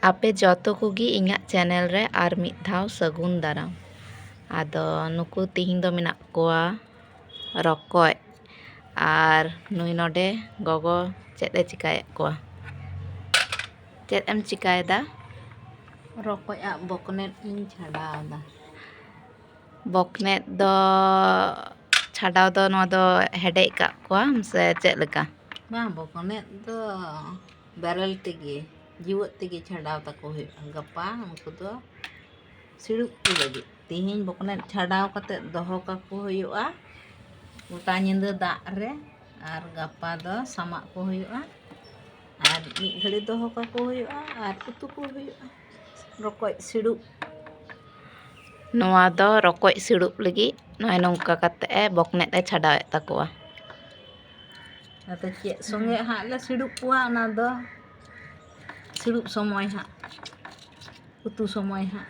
ᱟᱯᱮ ᱡᱚᱛᱚ ᱠᱚᱜᱮ ᱤᱧᱟᱹᱜ ᱪᱮᱱᱮᱞ ᱨᱮ ᱟᱨ ᱢᱤᱫ ᱫᱷᱟᱣ ᱥᱟᱹᱜᱩᱱ ᱫᱟᱨᱟᱢ ᱟᱫᱚ ᱱᱩᱠᱩ ᱛᱮᱦᱮᱧ ᱫᱚ ᱢᱮᱱᱟᱜ ᱠᱚᱣᱟ ᱨᱚᱠᱚᱡ ᱟᱨ ᱱᱩᱭ ᱱᱚᱰᱮ ᱜᱚᱜᱚ ᱪᱮᱫ ᱮ ᱪᱤᱠᱟᱹᱭᱮᱫ ᱠᱚᱣᱟ ᱪᱮᱫ ᱮᱢ ᱪᱤᱠᱟᱹᱭᱮᱫᱟ ᱨᱚᱠᱚᱡ ᱟᱜ ᱵᱚᱠᱱᱮᱴ ᱤᱧ ᱪᱷᱟᱰᱟᱣᱫᱟ ᱵᱚᱠᱱᱮᱴ ᱫᱚ ᱪᱷᱟᱰᱟᱣ ᱫᱚ ᱱᱚᱣᱟ ᱫᱚ ᱦᱮᱰᱮᱡ ᱠᱟᱜ ᱠᱚᱣᱟᱢ ᱥᱮ ᱪᱮᱫ ᱞᱮᱠᱟ ᱵᱟᱝ ᱵᱚᱠᱱᱮᱴ ᱫᱚ ᱵᱮᱨᱮᱞ ᱛᱮᱜᱮ ᱡᱤᱣᱮᱫ ᱛᱮᱜᱮ ᱪᱷᱟᱰᱟᱣ ᱛᱟᱠᱚ ᱦᱩᱭᱩᱜᱼᱟ ᱜᱟᱯᱟ ᱩᱱᱠᱩ ᱫᱚ ᱥᱤᱲᱩᱯ ᱠᱚ ᱞᱟᱹᱜᱤᱫ ᱛᱮᱦᱮᱧ ᱵᱚᱠᱱᱮᱡ ᱪᱷᱟᱰᱟᱣ ᱠᱟᱛᱮ ᱫᱚᱦᱚ ᱠᱟᱠᱚ ᱦᱩᱭᱩᱜᱼᱟ ᱜᱚᱴᱟ ᱧᱤᱫᱟᱹ ᱫᱟᱜ ᱨᱮ ᱟᱨ ᱜᱟᱯᱟ ᱫᱚ ᱥᱟᱢᱟᱜ ᱠᱚ ᱦᱩᱭᱩᱜᱼᱟ ᱟᱨ ᱢᱤᱫ ᱜᱷᱟᱹᱲᱤ ᱫᱚᱦᱚ ᱠᱟᱠᱚ ᱦᱩᱭᱩᱜᱼᱟ ᱟᱨ ᱩᱛᱩ ᱠᱚ ᱦᱩᱭᱩᱜᱼᱟ ᱨᱚᱠᱚᱡ ᱥᱤᱲᱩᱯ ᱱᱚᱣᱟ ᱫᱚ ᱨᱚᱠᱚᱡ ᱥᱤᱲᱩᱯ ᱞᱟᱹᱜᱤᱫ ᱱᱚᱜᱼᱚᱭ ᱱᱚᱝᱠᱟ ᱠᱟᱛᱮ ᱮ ᱵᱚᱠᱱᱮᱡ ᱮ ᱪᱷᱟᱰᱟᱣᱮᱫ ᱛᱟᱠᱚᱣᱟ ᱟᱫᱚ ᱪᱮᱫ ᱥᱚᱸᱜᱮ ᱦᱟᱸᱜ ᱞᱮ ᱥᱤᱲᱩᱯ ᱠᱚᱣᱟ ᱚᱱᱟ ᱫᱚ ᱥᱤᱲᱩᱯ ᱥᱚᱢᱚᱭ ᱦᱟᱸᱜ ᱩᱛᱩ ᱥᱚᱢᱚᱭ ᱦᱟᱸᱜ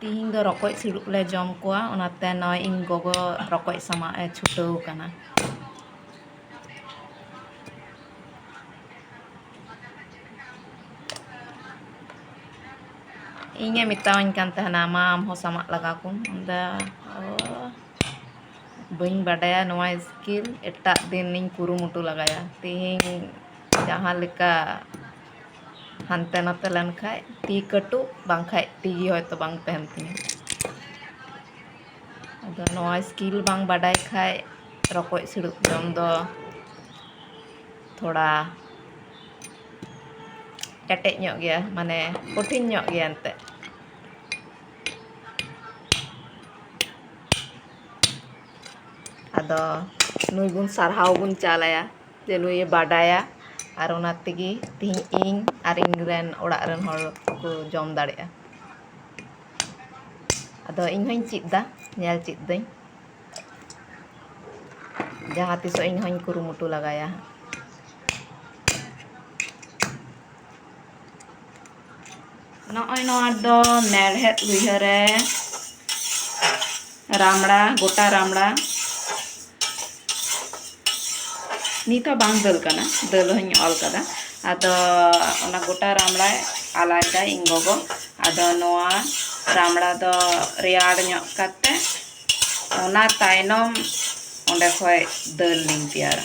ᱛᱤᱦᱤᱧ ᱫᱚ ᱨᱚᱠᱚᱡ ᱥᱤᱲᱩᱯ ᱞᱮ ᱡᱚᱢ ᱠᱚᱣᱟ ᱚᱱᱟᱛᱮ ᱱᱚᱜᱼᱚᱭ ᱤᱧ ᱜᱚᱜᱚ ᱨᱚᱠᱚᱡ ᱥᱟᱢᱟᱜ ᱮ ᱪᱷᱩᱴᱟᱹᱣ ᱟᱠᱟᱱᱟ ᱤᱧᱮ ᱢᱮᱛᱟᱣᱟᱹᱧ ᱠᱟᱱ ᱛᱟᱦᱮᱱᱟ ᱢᱟ ᱟᱢ ᱦᱚᱸ ᱥᱟᱢᱟᱜ ᱞᱟᱜᱟ ᱠᱚᱢ ᱟᱫᱚ ᱵᱟᱹᱧ ᱵᱟᱰᱟᱭᱟ ᱱᱚᱣᱟ ᱥᱠᱤᱞ ᱮᱴᱟᱜ ᱫᱤᱱᱤᱧ ᱠᱩᱨᱩᱢᱩᱴᱩ ᱞᱮᱜᱟᱭᱟ ᱛᱤᱦᱤᱧ ᱡᱟᱦᱟᱸ ᱞᱮᱠᱟ ᱦᱟᱱᱛᱮ ᱱᱟᱛᱮ ᱞᱮᱱ ᱠᱷᱟᱡ ᱛᱤ ᱠᱟᱹᱴᱩᱵ ᱵᱟᱝ ᱠᱷᱟᱡ ᱛᱤ ᱜᱮ ᱦᱚᱭᱛᱳ ᱵᱟᱝ ᱛᱟᱦᱮᱱ ᱛᱤᱧᱟ ᱟᱫᱚ ᱱᱚᱣᱟ ᱥᱠᱤᱞ ᱵᱟᱝ ᱵᱟᱰᱟᱭ ᱠᱷᱟᱡ ᱨᱚᱠᱚᱡ ᱥᱤᱲᱩᱯ ᱡᱚᱢ ᱫᱚ ᱛᱷᱚᱲᱟ ᱠᱮᱴᱮᱡ ᱧᱚᱜ ᱜᱮᱭᱟ ᱢᱟᱱᱮ ᱠᱚᱴᱷᱤᱱ ᱧᱚᱜ ᱜᱮᱭᱟ ᱮᱱᱛᱮᱫ ᱟᱫᱚ ᱱᱩᱭ ᱵᱚᱱ ᱥᱟᱨᱦᱟᱣ ᱵᱚᱱ ᱪᱟᱞ ᱟᱭᱟ ᱪᱟᱹᱞᱩᱭᱮ ᱵᱟᱰᱟᱭᱟ ᱟᱨ ᱚᱱᱟ ᱛᱮᱜᱮ ᱛᱮᱦᱤᱧ ᱤᱧ ᱟᱨ ᱤᱧ ᱨᱮᱱ ᱚᱲᱟᱜ ᱨᱮᱱ ᱦᱚᱲ ᱠᱚ ᱡᱚᱢ ᱫᱟᱲᱮᱭᱟᱜᱼᱟ ᱟᱫᱚ ᱤᱧ ᱦᱚᱸᱧ ᱪᱮᱫ ᱮᱫᱟ ᱧᱮᱞ ᱪᱮᱫ ᱮᱫᱟᱹᱧ ᱡᱟᱦᱟᱸ ᱛᱤᱥᱚᱜ ᱤᱧ ᱦᱚᱸᱧ ᱠᱩᱨᱩᱢᱩᱴᱩ ᱞᱮᱜᱟᱭᱟ ᱱᱚᱜᱼᱚᱭ ᱱᱚᱣᱟ ᱫᱚ ᱢᱮᱲᱦᱮᱫ ᱞᱩᱭᱦᱟᱹ ᱨᱮ ᱨᱟᱢᱲᱟ ᱜᱚᱴᱟ ᱨᱟᱢᱲᱟ ᱱᱤᱛ ᱦᱚᱸ ᱵᱟᱝ ᱫᱟᱹᱞ ᱠᱟᱱᱟ ᱫᱟᱹᱞ ᱦᱚᱧ ᱚᱞ ᱠᱟᱫᱟ ᱟᱫᱚ ᱚᱱᱟ ᱜᱚᱴᱟ ᱨᱟᱢᱲᱟ ᱟᱞᱟᱭᱫᱟ ᱤᱧ ᱜᱚᱜᱚ ᱟᱫᱚ ᱱᱚᱣᱟ ᱨᱟᱢᱲᱟ ᱫᱚ ᱨᱮᱭᱟᱲ ᱧᱚᱜ ᱠᱟᱛᱮ ᱚᱱᱟ ᱛᱟᱭᱱᱚᱢ ᱚᱸᱰᱮ ᱠᱷᱚᱡ ᱫᱟᱹᱞ ᱞᱤᱧ ᱛᱮᱭᱟᱨᱟ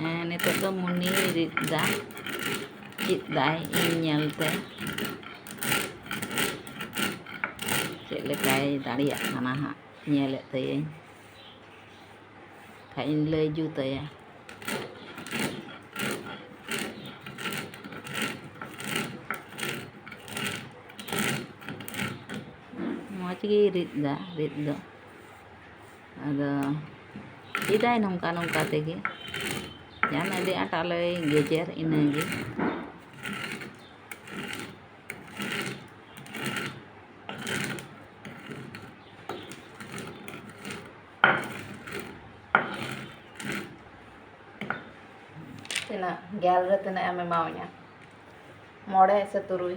ᱦᱮᱸ ᱱᱤᱛᱚᱜ ᱫᱚ ᱢᱩᱱᱤ ᱨᱤᱫ ᱫᱟ ᱪᱮᱫ ᱫᱟᱭ ᱤᱧ ᱧᱮᱞ ᱛᱮ ᱪᱮᱫ ᱞᱮᱠᱟᱭ ᱫᱟᱲᱮᱭᱟᱜ ᱠᱟᱱᱟ ᱦᱟᱸᱜ ᱧᱮᱞᱮᱫ ᱛᱟᱹᱭᱟᱹᱧ ᱠᱷᱟᱡ ᱤᱧ ᱞᱟᱹᱭ ᱡᱩᱛᱟᱭᱟ ᱢᱚᱡᱽ ᱜᱮᱭ ᱨᱤᱫ ᱫᱟ ᱨᱤᱫ ᱫᱚ ᱟᱫᱚ ᱪᱮᱫᱟᱭ ᱱᱚᱝᱠᱟ ᱱᱚᱝᱠᱟ ᱛᱮᱜᱮ ᱡᱟᱱ ᱟᱹᱰᱤ ᱟᱸᱴ ᱟᱞᱮᱭ ᱜᱮᱡᱮᱨ ᱤᱱᱟᱹᱜᱮ ᱛᱤᱱᱟᱹᱜ ᱜᱮᱞ ᱨᱮ ᱛᱤᱱᱟᱹᱜ ᱮᱢ ᱮᱢᱟᱣᱟᱹᱧᱟ ᱢᱚᱬᱮ ᱥᱮ ᱛᱩᱨᱩᱭ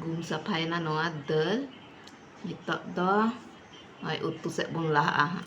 ᱜᱩᱢ ᱥᱟᱯᱷᱟᱭᱮᱱᱟ ᱱᱚᱣᱟ ᱫᱟᱹᱞ ᱱᱤᱛᱚᱜ ᱫᱚ ᱱᱚᱜᱼᱚᱭ ᱩᱛᱩ ᱥᱮᱫ ᱵᱚᱱ ᱞᱟᱦᱟᱜᱼᱟ ᱦᱟᱸᱜ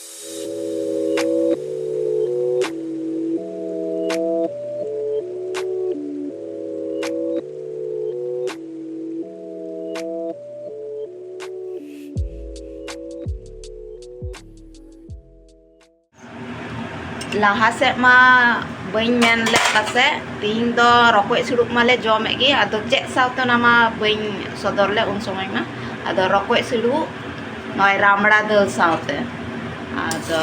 ᱞᱟᱦᱟ ᱥᱮᱫ ᱢᱟ ᱵᱟᱹᱧ ᱢᱮᱱ ᱞᱮᱫ ᱯᱟᱥᱮᱡ ᱛᱤᱦᱤᱧ ᱫᱚ ᱨᱚᱠᱚᱡ ᱥᱩᱲᱩᱵ ᱢᱟᱞᱮ ᱡᱚᱢᱮᱫ ᱜᱮ ᱟᱫᱚ ᱪᱮᱫ ᱥᱟᱶᱛᱮ ᱚᱱᱟ ᱢᱟ ᱵᱟᱹᱧ ᱥᱚᱫᱚᱨ ᱞᱮᱫ ᱩᱱ ᱥᱚᱢᱚᱭ ᱢᱟ ᱟᱫᱚ ᱨᱚᱠᱚᱡ ᱥᱩᱲᱩᱵ ᱱᱚᱜᱼᱚᱭ ᱨᱟᱢᱲᱟ ᱫᱟᱹᱞ ᱥᱟᱶᱛᱮ ᱟᱫᱚ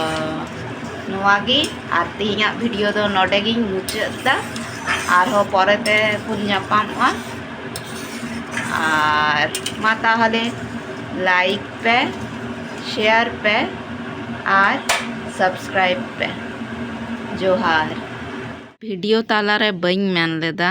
ᱱᱚᱣᱟᱜᱮ ᱟᱨ ᱛᱮᱦᱮᱧᱟᱜ ᱵᱷᱤᱰᱤᱭᱳ ᱫᱚ ᱱᱚᱰᱮ ᱜᱤᱧ ᱢᱩᱪᱟᱹᱫ ᱮᱫᱟ ᱟᱨᱦᱚᱸ ᱯᱚᱨᱮ ᱛᱮ ᱵᱚᱱ ᱧᱟᱯᱟᱢᱚᱜᱼᱟ ᱟᱨ ᱢᱟ ᱛᱟᱦᱚᱞᱮ ᱞᱟᱭᱤᱠ ᱯᱮ ᱥᱮᱭᱟᱨ ᱯᱮ ᱟᱨ ᱥᱟᱵᱥᱠᱨᱟᱭᱤᱵ ᱯᱮ ᱡᱚᱦᱟᱨ ᱵᱷᱤᱰᱤᱭᱳ ᱛᱟᱞᱟᱨᱮ ᱵᱟᱹᱧ ᱢᱮᱱ ᱞᱮᱫᱟ